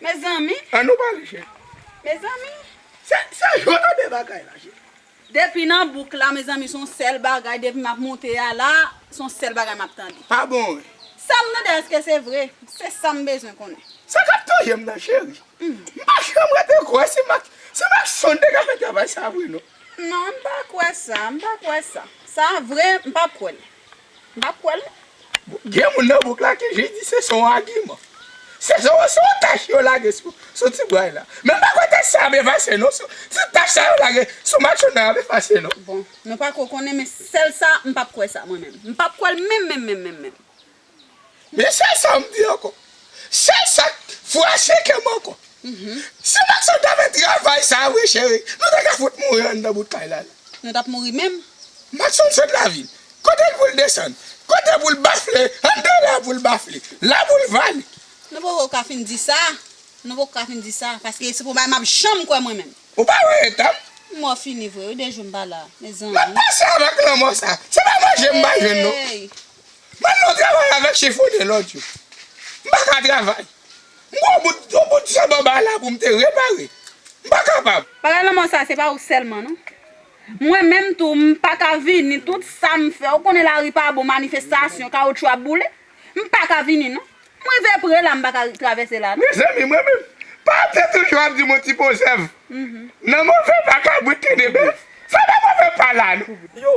Mezanmi. An nou pale cheri. Mezanmi. Se sa yo nan de bagay la cheri. Depi nan bouk la mezanmi son sel bagay depi map moute a la son sel bagay map tande. Pa bon wi. Sam tande eske se vre se sam bezwen konnen. Sa kap touyem nan cheri. M pa janm rete kwè se Maxon te ka fè travay sa vre non. Non m pa kwè sa m pa kwè sa. Sa vre m pap kwèl. Mpa kwè l. Gen moun nan bouk la ki jis di se son agiman. Se son son tach yo lage sou sou ti bway la. Men mpa kwè tach sa ap efase non sou sou tach sa yo lage sou matchon nan ap efase non. Bon, nou pako konnen men sèl sa mpap kwè sa mwen menm. Mpap kwè l menm menm menm menm menm. Men sèl sa m di ankò. Sèl sa k fwache kè m ankò. Si Macson ta fè travay sa a vre cheri, nou ta ka fout mouri anndan bout kay la. Nou t ap mouri menm. Macson sot lavil. Kote l pou l desann? Kote pou l bafle? Anndan la a pou l bafle. La pou l vale. Nou poko ka fin di sa. Nou poko ka fin di sa. Paske se pou bagay m ap janm kwè mwen menm. Ou pa wè eta m? Mò fini vre wi de jou m pa la. Mezanmi. M ap pase avèk lanmò sa a. Se pa manje m pa jwenn non. Eey! Ban nou travay avèk chifone lòd yo. M pa ka travay. M gen yon bout yon bout chèb anba la pou m te repare. M pa kapab. Bagay lanmò sa se pa ou sèlman non. Mwen menm tou m pa ka vini tout sa m fè ou konnen lari pa bon manifestasyon kawoutchou ap boule. M pa ka vini non. M rive pre la m pa ka travèse la non. Mezanmi mwen menm. Pate toujou ap di m yon ti po zèv. Nan move pa kabrit kende bèf. Sa pa move pa la non. Yo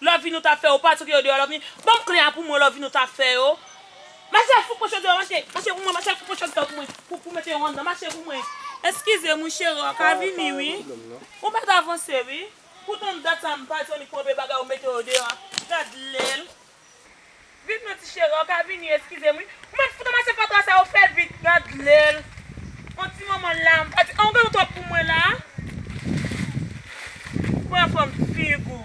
Love nou ta fè yo pa tchoke yo deyò love ni banm kle a pou mwen love nou ta fè yo Mache fouco chòt deyò mache mache pou mwen mache fouco chòt deyò pou mwen pou pou mete yo anndan mache pou mwen. Eskize m wi chere ou ka vini wi ou met avanse wi pou tant dat sa m pa jwenn li pou anpe bagay ou mete yo deyò gad lèl. Viv non ti cheri an ka vini eskizem wi Mwen fout ranmase fatra sa yo fè vit gad lèl on ti manman la m pa di an ou gen nou twòp pou mwen la pran fòm fig ou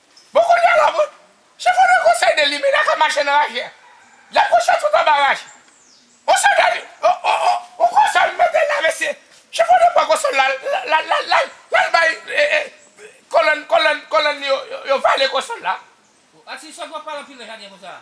Bon kounya la mwen Se pou le conseil de limena kap mache nan raje a Yap kouche tout anba raje On se dèni On konsòl metel la mesye Se pou nou pran konsòl la lal bay kolòn li yo vale konsòl la. Atis ou pa pale anpil nan jaden konsa.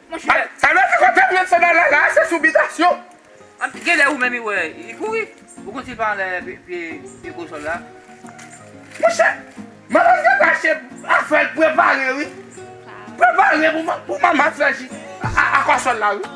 Monchè. Sa vle di kote m jwenn sandal la la a se sou bitasyon. Genlè ou menm i wè li kouri. Ou konn si l pa anlè pye kosol la. Monchè. Manman gen kache afè l prepare wi. Prepare pou manman fè ji a kòsòl la wi.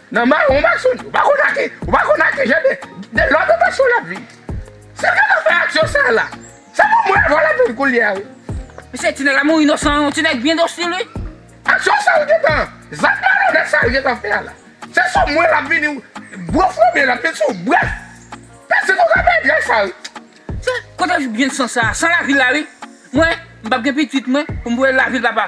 Nan maron mason ou pa konn ake ou pa konn ake jan de de lòt anbasyon lap viv se vle lap fè aksyon sa la se pou mwen avèw lap viv koulye a wi. Mesye ti nèg la mouri inosan yon ti nèg byen dosil wi. Aksyon sal gentan zak malonèt sal gentan fè a la se sou mwen lap vini gwo fomi lap vin sou bref pèse kou kabann nèg sa wi. Se kote byen san sa san lavil la wi mwen mpap gen pitit mwen poum voyel lavil papa.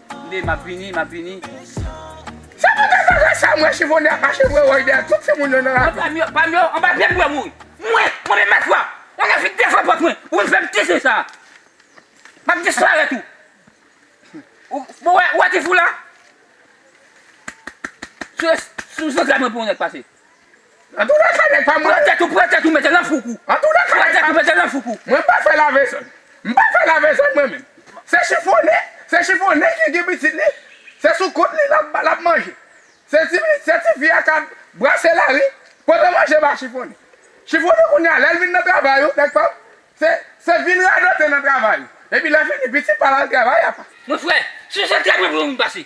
Nde map vini map vini. Sa pa ka sa sa m wè chifonè ap mache vre woy dèyè tout timoun yo nan la ri. Mwen pam yo anba pye m pou yo mouri. Mwen, mwen menm mèt fwa, mwen gen vin defann pòt mwen pou vin fè m tisi sa. Map disparèt ou. Ou wè, ou wè ti fou la? Sou sou zantray mwen pou yon nèg pase. Nan tou de ka nèg pa m lan. Pran tèt ou pran tèt ou mete lan foukou. Nan tou de ka nèg pa m lan. Pran tèt ou mete lan foukou. Mwen m pa fè lave zòn. M pa fè lave zòn mwen menm. Se chifonnen se chifonnen ki gen pitit li se sou kont li l ap manje. Se ti fi se ti fi a k ap brase lari pote manje ba chifonnen. Chifonnen kounye a lè l vin nan travay ou nèg pa m se se vin radote nan travay ou. Epi lè fini pitit pa l al travay apa. Mon frè, si se trèt mwen pou mwen vin pase.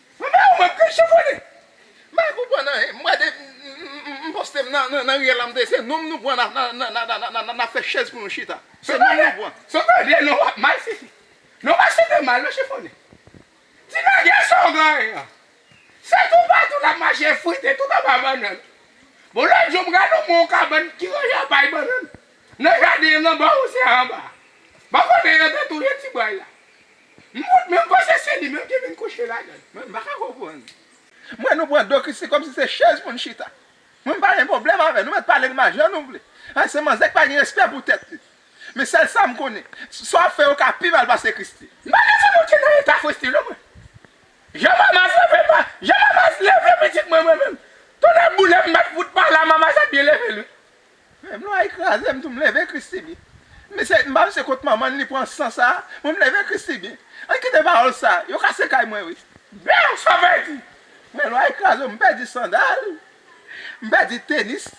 Mwen pa wè ou mwen pran chèf wè li. M pa konprann anyen m gade m poste m nan riyèl la m tande se nonm nou pran nap fè chèz pou nou chita se nonm nou pran. Son pa vle non wap mal fifi. Non pa site mal non chifone. Ti nègè sa w genyen an. Se tou patou lap mache frite tout anba bannann. Bon lòt jou m gade w pran yon kabann ki ranje an pay bannann nan jaden an nan bò ou se anba. Bò kote yo te touye ti bòy la. M wont menm koze se li menm ki vin kouche ladann mwen m paka konprann m wè nou pran do Christie kòmsi se chèz pou n chita mwen m pa gen pwoblèm avè l nou mèt pale de majè nou vle a se manzè ki pa gen respè pou tèt li men sèl sa m konnen sa w ap fè yo ka pi mal pase Christie. M pa ka di nou te nan eta Christie non mwen jan Mamaz leve pa jan Mamaz leve pitit mwen mwen menm tonnè boulem m bat fout pa la Mamaz ap byen leve l wi Menm lwa yi kraze m tou m leve Christiby mesye m pa m se kot manman li pran san sa mwen m leve Christiby an kite pawòl sa yo kase kay mwen wi. Bèw sa pèdi men lwa yi kraze w m pèdi sandal m pèdi tenis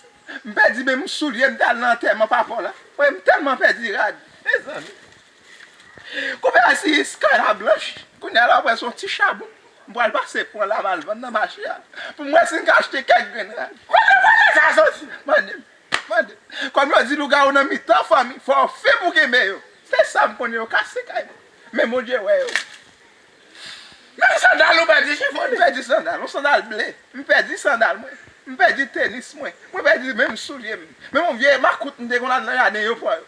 m pèdi menm soulye m te al nan antèman papaw la woy m tèlman pèdi rad mezanmi. Konbyen a si sky la blanch Kounye a la wap wè son ti chabon M pral pase pran laval vann nan mache a Pou m wè si m ka achte kèk grenn rad Kote koze sa soti Mande m Mande m Kòm yo di lougawou nan mitan fanmi Fò w fin pou w kenbe yo Se sa m konnen yo kase kay mwen Men Bondye wè yo Menm sandal nou pèdi chifon Mwen pèdi sandal Yon sandal ble M pèdi sandal mwen M pèdi tenis mwen Mwen pèdi menm soulye m Menm yon vye makout m te konn al nan jaden yo pran yo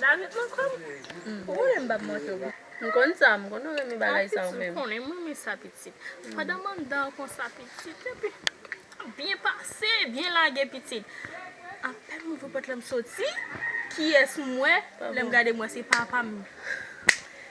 David lan kòm Ou konnen m pap manke w. M konn sa m konn ou renmen bagay sa ou menm. Pitit m konnen m renmen sa pitit. Pandan m anndan an konsa pitit epi nap byen pase byen lage pitit. Apèn m ouvri pòt la m soti kiyès m wè lè m gade m wè se papa m.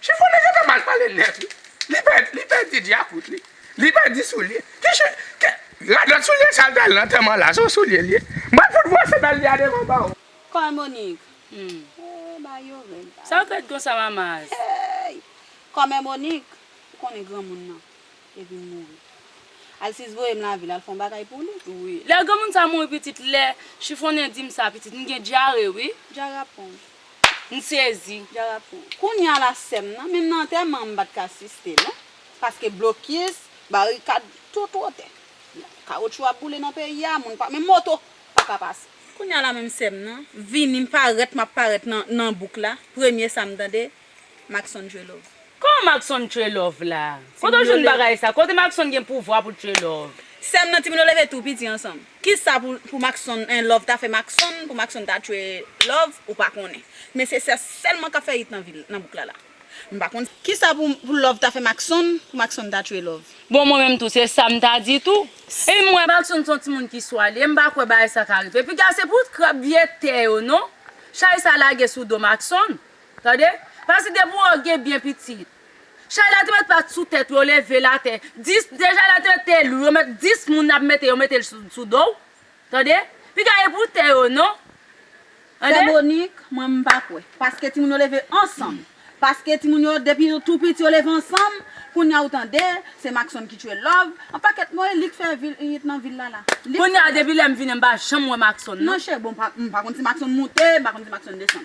Chifonnen yo te mal pale nèt wi. Li pè, li pèdi dyakout li. Li pèdi soulye. Ki chi, ki, radòt soulye sa l te al nan antèman la, se yon soulye l ye? M pral fout vwase bèl li a devan ba w. Kòy Monik, Humm, ee bagay yo rèd la. Sa w rèd konsa Mamaz? Eeyy! Kòmè Monik, ou konnen granmoun nan, te vin mouri. Alsis voye m lavil al fè yon bagay pou li. Wi. Lè granmoun sa mouri pitit, lè Chifonnen di m sa pitit, m gen dyare wi. Dyare ap pran w. M sezi. Jara pou ou. Kounya la sèm nan, menm nan antèman an m pat ka asiste non. Paske blokis, barikad, tout wotè. Kawotchou ap boule nan peyi a, moun pa, menm moto pa ka pase. Kounya la menm sèm nan, vini m parèt m ap parèt nan bouk la, premye sa m tande. Maxon dre love. Kòman Maxon dre love la? Kote w jwenn bagay sa? Kote Maxon gen pouvwa pou dre love? Sèm nan ti milo leve tou piti ansanm. Kisa pou maxon en love ta fè maxon pou maxon ta dre love ou pa konnen men se sè sèlman kap fè it nan vil nan bouk la la m pa konn kisa pou love ta fè maxon pou maxon ta dre love. Bon mwen menm tou se sam ta di tou epi m wè maxon son ti moun ki swale m pa kwè bagay sa ka rive piga se pou krab vye tè yo non chay sa lage sou do maxon Tande. Pase de pou ou gen byen pitit. Chay la te met pat sou tèt ou yo leve l atè. 10, de chay la te met te lou yo met 10 moun ap mete yo mete l sou sou do w. Tande. Piga e pou tè yo non. Tande. Sè Bonik, mwen m pa kwè. Paske timoun yo leve ansanm. Paske timoun yo depi yo tou piti yo leve ansanm. Kounya ou tande, se Mackson ki tchwe Love. An pakèt mo e li k fè vil it nan vil la la. Li k fè. Kounya depi lè m vini m pa janm wè Mackson non. Non chè, bon m pa konn si Mackson moute, m pa konn si Mackson desann.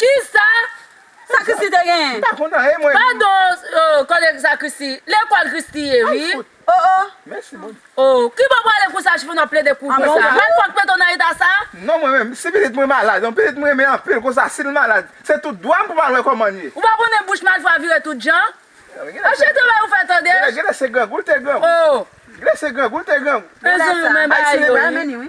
Kisa sa christie te genyen. Padon koleg sa christie lekol christie ye wi oh oh oh kibo prale kou saj finn ap plede kou konsa mal fok mete w nan eta sa. Non mwen menm si pitit mwen malad yon pitit m renmen anpil konsa sil malad se tout dwam pou mal wè koman l ye. Ou pa konnen bouch malfra vire tout jan? An chen travay ou fè tande. Genlè se grangou l te grangou. Genlè se grangou l te grangou. Ayisyen e bay ameni wi.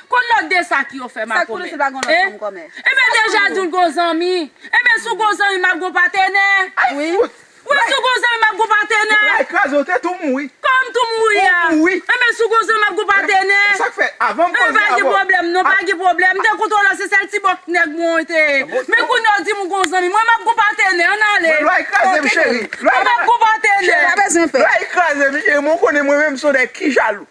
Kon lòt de sa ki yo fè ma komè. Eh Enben deja di w gon zanmi. Enben si w gon zanmi m ap gon patenè. Ay fout! Wi si w gon zanmi m ap gon patenè. Lay kraze w te tou mouri. Kòman m tou mouri a? Ou mouri. Enben si w gon zanmi m ap gon patenè. E sa k fè? Avan m koze avè w. Enben pa gen pwoblèm non, pa gen pwoblèm. M te kontan w la se sèl ti bòk nèg mwen te ye. Men kounye a w di m ou gon zanmi. Mwen m ap gon patenè. Ann ale. Mwen lay kraze m cheri. Mwen m ap gon patenè. Cheri pa bezwen pè. Lay kraze m cheri mwen konnen mwen menm m son nèg ki jalou.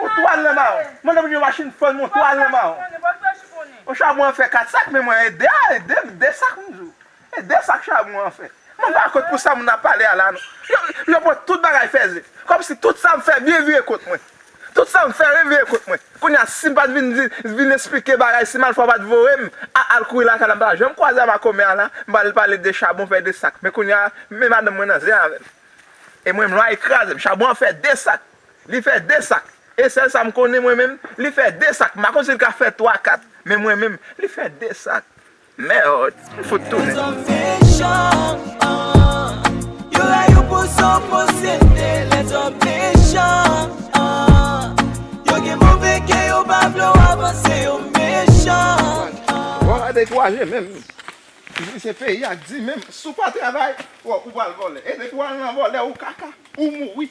Yon twal nan mawon. Mwen nan yon machin fòn yon twal nan mawon. Yon chabon an fè 4 sak men mwen ede a ede m 2 sak m di w. E 2 sak chabon an fè. Mwen pa kont pou sa moun ap pale a la non. Yo yo pran tout bagay fèzè. Kòmsi tout sa m fè byen vire kont mwen. Tout sa m fè ren vire kont mwen. Kounye a si m pa t vin di vin esplike bagay si malfwa pa t voye m a al kouri lakay la m pa ta janm kwaze a makomè a la m pa al pale de chabon fè 2 sak men kounye a men madanm mwen nan zen avè m. E mwen menm lwa e kraze m chabon an fè 2 sak. Li fè 2 sak. E sèl sa m konnen mwen menm, li fè 2 sak. M pa konn si l ka fè 3, 4. Men mwen menm, li fè 2 sak. Merd! M fout tounen. Wap pa dekouraje menm. Se peyi a k di menm. Si w pa travay, ou pral vòlè. E depi w al nan vòlè, ou kaka. Ou mouri.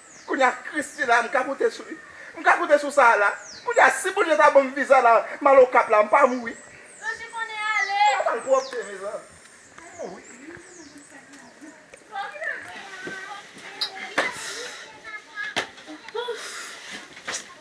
Kounye a Christie la m ka konte sou li. M ka konte sou sa a la. Kounye a si Bondye ta ban m viza la m al Okap la m pa mouri. Tanjou konnen ale. M pa bal pwòpte mezanmi. M mouri.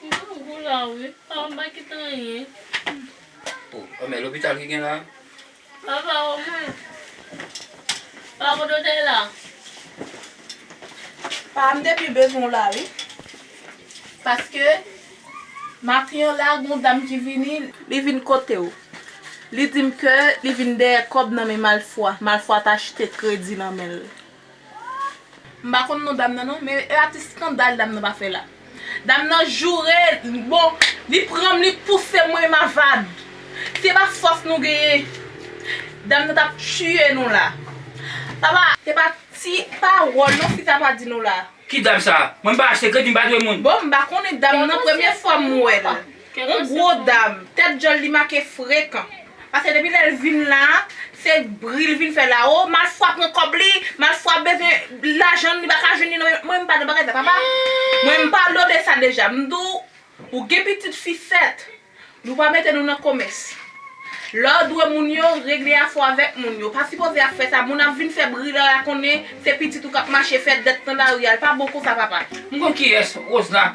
M konn gou la wi. Sa m pa kite anyen. Oh men lopital ki gen la. Papa o mwen. Pa ko dotè la. Pa m te pi bezwen w la wi. Paske maten an la gon dam ki vini. Li vin kote w. Li di m ke li vin dèyè kòb nan men malfwa. Malfwa ta achte kredi nan men l. M pa konn non dam nan non, men e atis skandal dam nan pa fè la. Dam nan joure, bon, li pran m li pouse m mwen mavad. Se pa fòs nou genyen. Dam nan tap tiye nou la. Papa. Se pa ti pawòl non fi sa pral di nou la. Ki dam sa? Mwen m pa achte kredi m pa jwe moun. Bon m pa konnen dam nan premye fwa m wè l. Yon gwo dam, tèt djòl li make frekan. Pase depi lè l vin la, se bri l vin fè la. O, malfwa pran kòb li, malfwa bezwen lajan l, li pa ka jwenn li nan men m. Mwen m pa nan bagay sa papa. Mwen m padone sa deja. M di w, ou gen pitit fi 7. Nou pa mete nou nan komès. Lè w dwe moun yo, regle afè w avèk moun yo. Ou pa sipoze ap fè sa. Moun ap vin fè bri lè a konnen se pitit ou k ap mache fè dèt nan lari a. L pa bon konsa papa. M konn kiyès Rose la